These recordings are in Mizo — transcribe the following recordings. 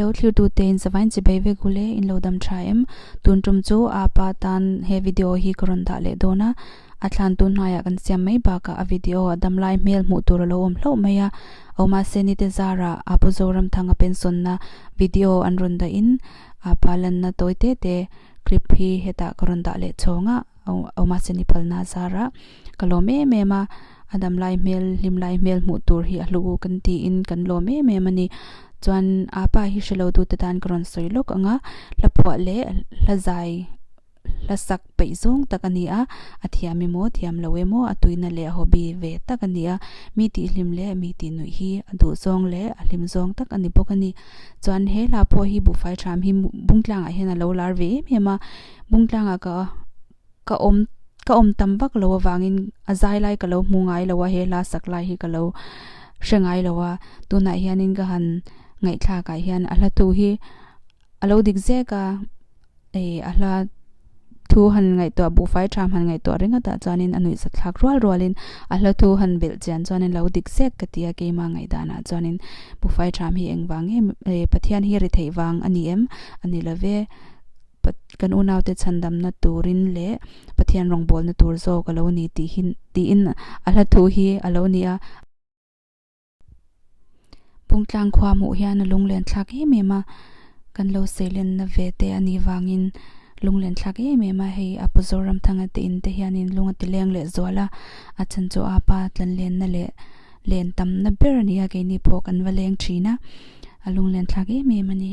Lo thirtu te in savain chi bei vek ule in lo dam tha em? Tun tum chu aa pa tan he video hi ka rawn dah leh dawn a, a thlantu hnai ah kan siam mai bak ah a video a dam lai hmel hmuh tur a lo awm hlauh mai a, aw mah se nite zar ah aa pu Zoramthanga pensawn na video an rawn dah in aa pa lan na tawi te te clip hi hetah ka rawn dah leh chawng a. aw mahse ni phalna a zar a ka lawm em em a a dam lai hmel hlim lai hmel hmuh tur hi a hlu u kan ti in kan lawm em em a ni chuan a pa hi hre lo dute tan ka rawn sawi lawk ang a hla phuah leh hla zai hla sak peih zawng tak a ni a a thiam emaw a thiam lo emaw a tuina leh a hobby ve tak a ni a mi tih hlim leh mi tih nuih hi a duh zawng leh a hlim zawng tak a ni bawk a ni chuan he hla pawh hi buhfai tham hi bungtlang ah hian a lo lar ve em em a. Bung tlangah ka ka awm ka awm tam vak lo avangin a zai lai ka lo hmu ngai lo a he hla sak lai hi ka lo hre ngai lo a, tunah hianin ka han ngaihthlak ah hian a hla tu hi a lo dik zek a, ih a hla thu han ngaihtuah buhfai tha han ngaihtuah ringawt ah chuanin a nuihzet thlak rual rual in a hla thu han belh chian chuan in lo dik zek ka ti a, keimah ngaihdan ah chuan in buhfai tha hi engvang nge eh Pathian hi ri theih vang a ni em? A ni lo ve. kan unaute chhandamna turin leh Pathian rawngbawlna tur zawk a lo ni tih hi tiin a hla thu hi a lo ni a. Pungtlangkhua hmuh hian a lunglentthlak em em a, kan lo seilenna ve te a nih vangin lunglentthlak em em a, hei a pu Zoramthanga te in te hianin lung a ti leng leh zual a, a chan chu a pa tlanlenna leh len tamna ber a ni a, keini pawh kan va leng thin a, a lunglentthlak em em a ni.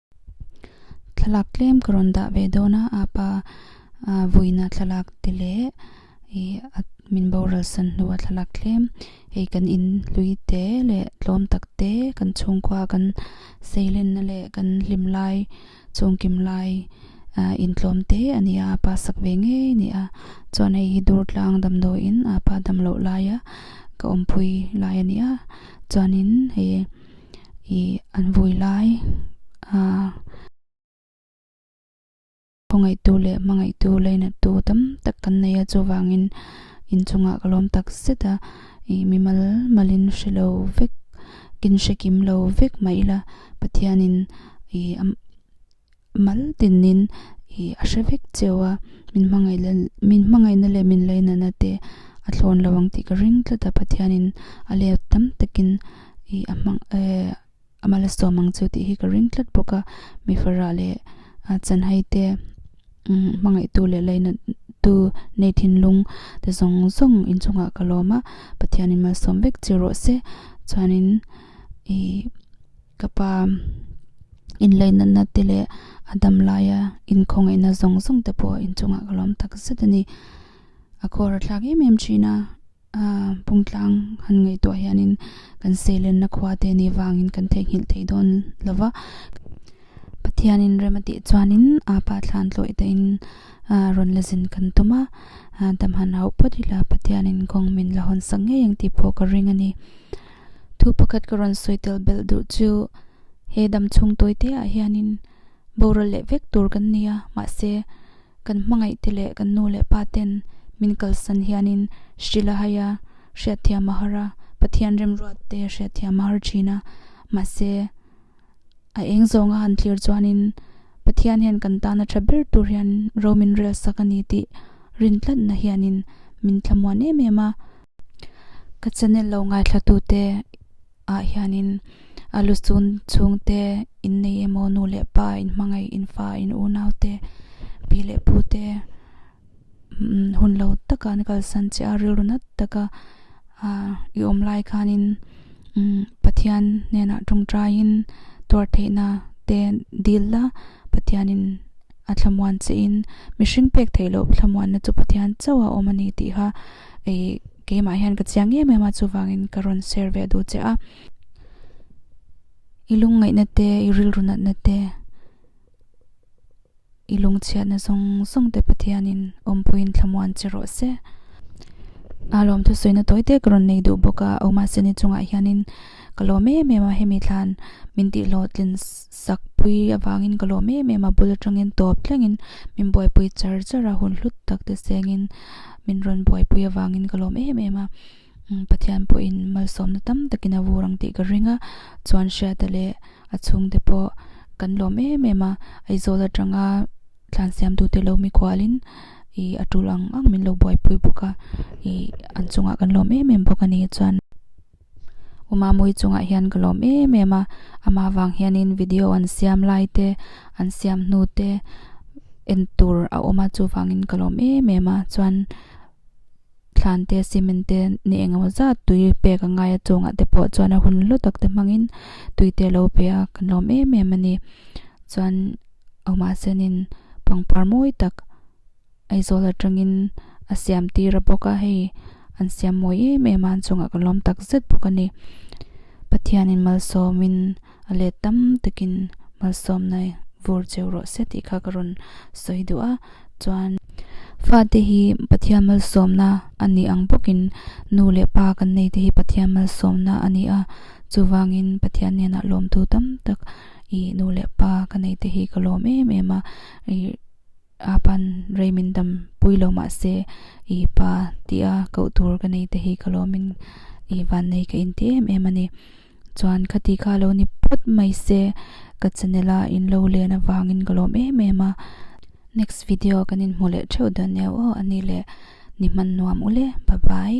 Thlalak tlem ka rawn dah ve dawn a, a pa ah vuina thlalak te leh ih a min boral san hnu a thlalak tlem hei kan in hlui te leh tlawm tak te kan chhungkua ah kan seilen na leh kan hlim lai chung kim lai ah in tlawm te a ni a, a pa sak ve ngei a ni a, chuan hei hi dur tlang damdawi in a pa dam loh laia ka awmpui lai a ni a, chuanin hei-- ih an vui lai a khawngaihtu leh hmangaihtu lainattu tam tak kan nei a chuvangin inchungah ka lawm tak zet a ih mi mal malin hre lo vek kin hre kim lo vek mai ila Pathianin ih-- mal tinin i a hre vek cheu a, min hmangaihna min hmangaihna leh min laih nana te a thlawn lo ang tih ka ring tlat a, Pathianin a let tam takin i a hmang eh a mal a sawm ang chu tih hi ka ring tlat bawk a, mi fara leh a chanhai te umm hmangaihtu leh laih na tu nei thinlung te zawng zawng inchungah ka lawm a, Pathianin mal sawm vek chiah rawh se chuanin i. Ka pa inlei natna te leh a dam laia in khawngaihna zawng zawng te pawh inchungah ka lawm tak zet a ni. A kawr a thlak em em thin a, a pungtlang han ngaihtuah hianin kan seilenna khua te nih vangin kan theihnghilh thei dawn lo va. Pathianin rem a tih chuanin aa pa thlan tlawih tein rawn la zin kan tum a, dam han hauh phawt ila Pathianin kawng min la hawn sak ngei ang tih pawh ka ring a ni. Thu pakhat ka rawn sawi tel belh duh chu he dam chhung tawite ah hianin boral leh vek tur kan ni a, mahse kan hmangaih te leh kan nu leh pa ten min kalsan hianin Shri Lahai a Hriatthiam a har a, Pathian remruat te Hriatthiam a har thin a, mahse A eng zawnga han thlir chuanin Pathian hian kan tana tha ber tur hian ro min rel sak a ni tih rin tlatna hianin min thla muan em em a. Ka channel lo ngaihthlatute ah hianin a lu chun chhungte in nei emaw nu leh pa in hmangaih in fa in unaute pi leh pute, hun lo takah an kalsan chiah a rilru nat taka i awm lai khanin Pathian hnenah ṭawngṭaiin tuar theihna te dil la, Pathianin a thlamuan chiahin mihring pek theih loh thlamuanna chu Pathian chauh a awm a ni tih kha ih keimah hian ka chiang em em a, chuvangin ka rawn share ve duh chiah a. I lungngaihna te, i rilru natna te. I lungchhiatna zawng zawng te Pathianin awmpuiin thlamuan che rawh se. A lawm thusawi na tawite ka rawn nei duh bawk a, ohmahse nichungah hianin ka lawm em em a, hemi thlan min tihhlawh tlin sak pui avangin ka lawm em em a, bul atangin tawp thlengin min buaipui char char a, hun hlut takte sengin min rawn buaipui avangin ka lawm em em a. Pathian pawhin malsawmna tam takin a vur ang tih ka ring a, chuan hriata leh a chhungte pawh kan lawm em em a, Aizawl atanga thlansiamtute lo mi kualin i a tul ang ang min lo buaipui bawk a, i an chungah kan lawm em em bawk a ni, chuan Umamui chungah hian ka lawm em em a, amah vang hianin video an siam lai te, an siam hnu te en tur a awm a, chuvangin ka lawm em em a, chuan. thlan te, cement te ni eng emaw zat tui pek a ngaia chungah te pawh chuan a hun hla tak te hmangin tui te alo pe a, kan lawm em em a ni. Chuan mahse nin pangpar mawi tak Aizawl atangin a siam tir a bawk a, hei an siam mawi em em a an chungah ka lawm tak zet bawk a ni. Pathianin malsawmin. a let tam takin malsawmna vur cheu rawh se tih kha ka rawn sawi duh a, chuan. Fate hi Pathian malsawmna a ni ang bawkin nu leh pa kan nei te hi Pathian malsawmna a ni a, chuvangin Pathian hnenah lawmtu tam tak i nu leh pa ka nei te hi ka lawm em em a, i apan rei min dam pui lo mah se i pa tia koh tur ka nei te hi ka lawmin i vannei ka inti em em a ni. Chuan khati kha lo ni phawt mai se, ka channel a in lo len avangin ka lawm em em a, next video kan in hmu leh theuh dawn nia aw ani le ni hman nuam u le bye bye.